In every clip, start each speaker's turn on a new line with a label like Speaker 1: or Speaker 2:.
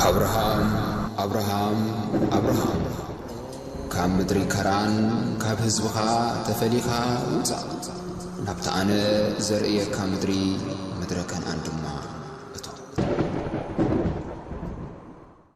Speaker 1: ኣብርሃም ኣብርሃም ኣብርሃም ካብ ምድሪ ከራን ካብ ህዝብኻ ተፈሊኻ ውጻእ ናብቲ ኣነ ዘርእየካ ምድሪ ምድረ ከነኣን ድማ እቶ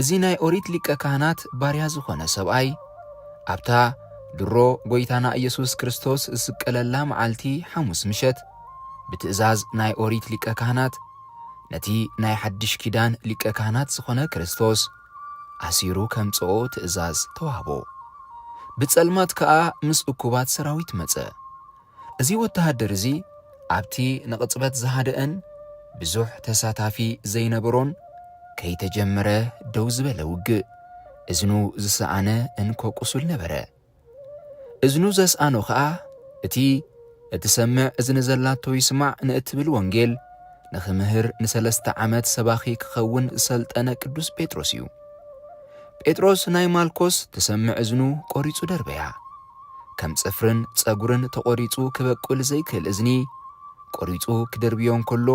Speaker 2: እዚ ናይ ኦሪት ሊቀ ካህናት ባርያ ዝኾነ ሰብኣይ ኣብታ ድሮ ጐይታና ኢየሱስ ክርስቶስ ዝስቀለላ መዓልቲ ሓሙስ ምሸት ብትእዛዝ ናይ ኦሪት ሊቀ ካህናት ነቲ ናይ ሓድሽ ኪዳን ሊቀ ካህናት ዝኾነ ክርስቶስ ኣሲሩ ከምጽኦ ትእዛዝ ተዋህቦ። ብጸልማት ከኣ ምስ እኩባት ሰራዊት መጸ። እዚ ወተሃደር እዚ ኣብቲ ንቕጽበት ዝሃደእን ብዙሕ ተሳታፊ ዘይነበሮን ከይተጀመረ ደው ዝበለ ውግእ፣ እዝኑ ዝሰኣነ እንኮ ቁሱል ነበረ። እዝኑ ዘስኣኖ ኸኣ እቲ እትሰምዕ እዝኒ ዘላቶ ይስማዕ ንእትብል ወንጌል ንኽምህር ንሰለስተ ዓመት ሰባኺ ክኸውን ዝሰልጠነ ቅዱስ ጴጥሮስ እዩ። ጴጥሮስ ናይ ማልኮስ ትሰምዕ እዝኑ ቆሪጹ ደርበያ። ከም ጽፍርን ጸጉርን ተቆሪጹ ክበቁል ዘይክእል እዝኒ ቆሪጹ ክድርብዮ እንከሎ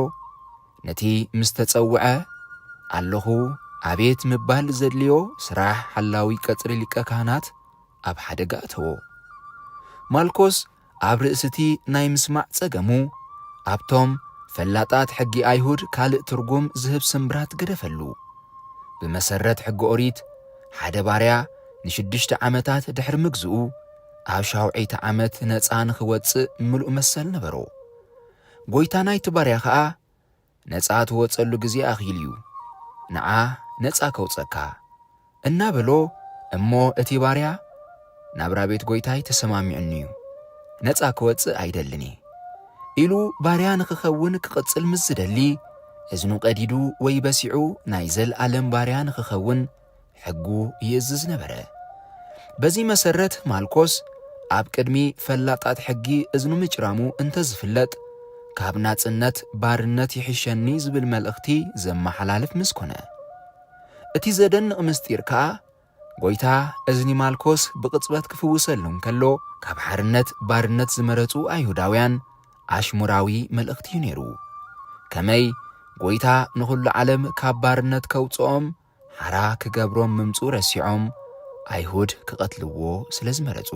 Speaker 2: ነቲ ምስ ተጸውዐ፣ ኣለኹ ኣቤት ምባል ዘድልዮ ስራሕ ሓላዊ ቀጽሪ ሊቀ ካህናት ኣብ ሓደጋ ኣተዎ። ማልኮስ ኣብ ርእሲ'ቲ ናይ ምስማዕ ጸገሙ፣ ኣብቶም ፈላጣት ሕጊ ኣይሁድ ካልእ ትርጉም ዝህብ ስምብራት ገደፈሉ። ብመሰረት ሕጊ ኦሪት፣ ሓደ ባርያ ንሽዱሽተ ዓመታት ድሕሪ ምግዝኡ፣ ኣብ ሻውዐይቲ ዓመት ነጻ ንኽወጽእ ምሉእ መሰል ነበሮ። ጐይታ ናይቲ ባርያ ኸኣ ነጻ ትወጸሉ ግዜ ኣኺሉ እዩ፣ ንዓ ነጻ ከውጸካ፣ እናበሎ እሞ እቲ ባርያ ናብራ ቤት ጐይታይ ተሰማሚዑኒ እዩ፣ ነጻ ክወጽእ ኣይደልን እየ፣ ኢሉ ባርያ ንኽኸውን ክቕጽል ምስ ዝደሊ እዝኑ ቀዲዱ ወይ በሲዑ ናይ ዘልኣለም ባርያ ንኽኸውን ሕጉ ይእዝዝ ነበረ። በዚ መሰረት ማልኮስ ኣብ ቅድሚ ፈላጣት ሕጊ እዝኑ ምጭራሙ እንተዝፍለጥ ካብ ናጽነት ባርነት ይሕሸኒ ዝብል መልእኽቲ ዘመሓላልፍ ምስ ኮነ እቲ ዘደንቕ ምስጢር ከኣ ጎይታ እዝኒ ማልኮስ ብቕጽበት ክፍውሰሉ እንከሎ ካብ ሓርነት ባርነት ዝመረጹ ኣይሁዳውያን ኣሽሙራዊ መልእኽቲ እዩ ነይሩ። ከመይ ጎይታ ንኹሉ ዓለም ካብ ባርነት ከውጽኦም ሓራ ክገብሮም ምምጽኡ ረሲዖም ኣይሁድ ክቐትልዎ ስለ ዝመረጹ።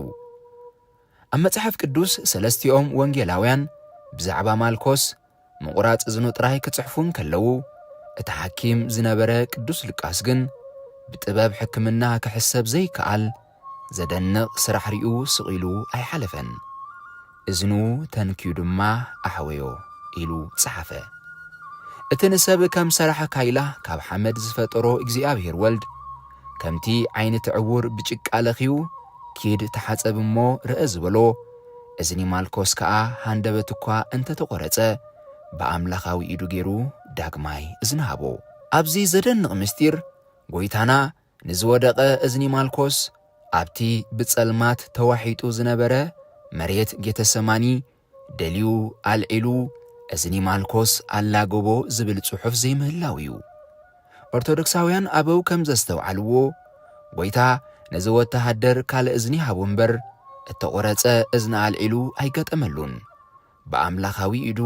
Speaker 2: ኣብ መጽሓፍ ቅዱስ ሰለስቲኦም ወንጌላውያን ብዛዕባ ማልኮስ ምቑራጽ እዝኑ ጥራይ ክጽሕፉ እንከለዉ፣ እቲ ሓኪም ዝነበረ ቅዱስ ሉቃስ ግን ብጥበብ ሕክምና ክሕሰብ ዘይከኣል ዘደንቕ ስራሕ ሪኡ ስቕ ኢሉ ኣይሓለፈን። እዝኑ ተንክዩ ድማ ኣሕወዮ ኢሉ ጸሓፈ። እቲ ንሰብ ከም ሰራሕ ካይላ ካብ ሓመድ ዝፈጠሮ እግዚኣብሔር ወልድ፣ ከምቲ ዓይኒ'ቲ ዕዉር ብጭቃ ለኽዩ ኪድ ተሓጸብ እሞ ርእ ዝበሎ፣ እዝኒ ማልኮስ ከኣ ሃንደበት እኳ እንተ ተቖረጸ ብኣምላኻዊ ኢዱ ገይሩ ዳግማይ እዝኒ ሃቦ። ኣብዚ ዘደንቕ ምስጢር፣ ጎይታና ንዝወደቐ እዝኒ ማልኮስ ኣብቲ ብጸልማት ተዋሒጡ ዝነበረ መሬት ጌተሰማኒ ደልዩ ኣልዒሉ እዝኒ ማልኮስ ኣላገቦ ዝብል ጽሑፍ ዘይምህላው እዩ። ኦርቶዶክሳውያን ኣበው ከም ዘስተውዓልዎ ጐይታ ነዚ ወተሃደር ካልእ እዝኒ ሃቦ እምበር እተቖረጸ እዝኒ ኣልዒሉ ኣይገጠመሉን። ብኣምላኻዊ ኢዱ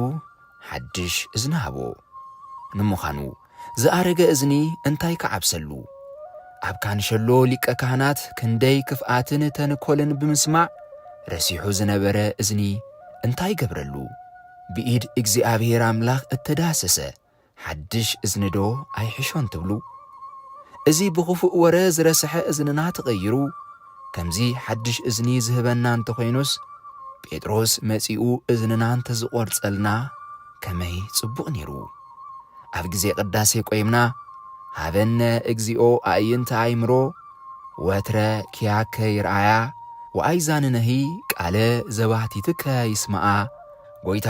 Speaker 2: ሓድሽ እዝኒ ሃቦ። ንምዃኑ ዝኣረገ እዝኒ እንታይ ክዓብሰሉ? ኣብ ካንሸሎ ሊቀ ካህናት ክንደይ ክፍኣትን ተንኮልን ብምስማዕ ረሲሑ ዝነበረ እዝኒ እንታይ ገብረሉ? ብኢድ እግዚኣብሔር ኣምላኽ እተዳህሰሰ ሓድሽ እዝኒዶ ኣይሕሾን ትብሉ? እዚ ብኽፉእ ወረ ዝረስሐ እዝንና ተቐይሩ ከምዚ ሓድሽ እዝኒ ዝህበና እንተኾይኑስ ጴጥሮስ መጺኡ እዝንና እንተዝቖርጸልና ከመይ ጽቡቕ ኔሩ። ኣብ ግዜ ቅዳሴ ቆይምና ሃበነ እግዚኦ ኣእይንተ ኣእምሮ ወትረ ኪያከ ይርኣያ ወኣይዛንነሂ ቃለ ዘባህቲትከ ይስምዓ ጎይታ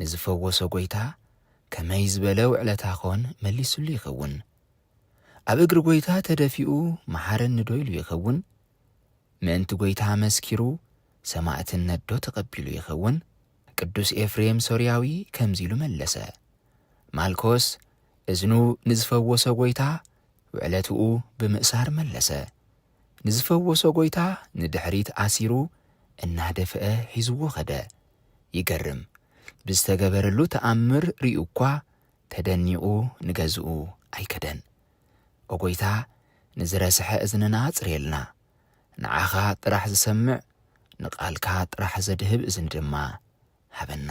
Speaker 2: ንዝፈወሶ ጐይታ ከመይ ዝበለ ውዕለታ ዀን መሊሱሉ ይኸውን? ኣብ እግሪ ጐይታ ተደፊኡ መሓረኒዶ ኢሉ ይኸውን? ምእንቲ ጐይታ መስኪሩ ሰማእትነትዶ ተቐቢሉ ይኸውን? ቅዱስ ኤፍሬም ሶርያዊ ከምዚ ኢሉ መለሰ፣ ማልኮስ እዝኑ ንዝፈወሶ ጐይታ ውዕለትኡ ብምእሳር መለሰ። ንዝፈወሶ ጎይታ ንድሕሪት ኣሲሩ እናደፍአ ሒዝዎ ከደ። ይገርም! ብዝተገበረሉ ተኣምር ሪኡ'ኳ ተደኒቑ ንገዝኡ ኣይከደን። ኦ ጎይታ ንዝረስሐ እዝንና ኣጽርየልና። ንዓኻ ጥራሕ ዝሰምዕ ንቓልካ ጥራሕ ዘድህብ እዝኒ ድማ ሃበና።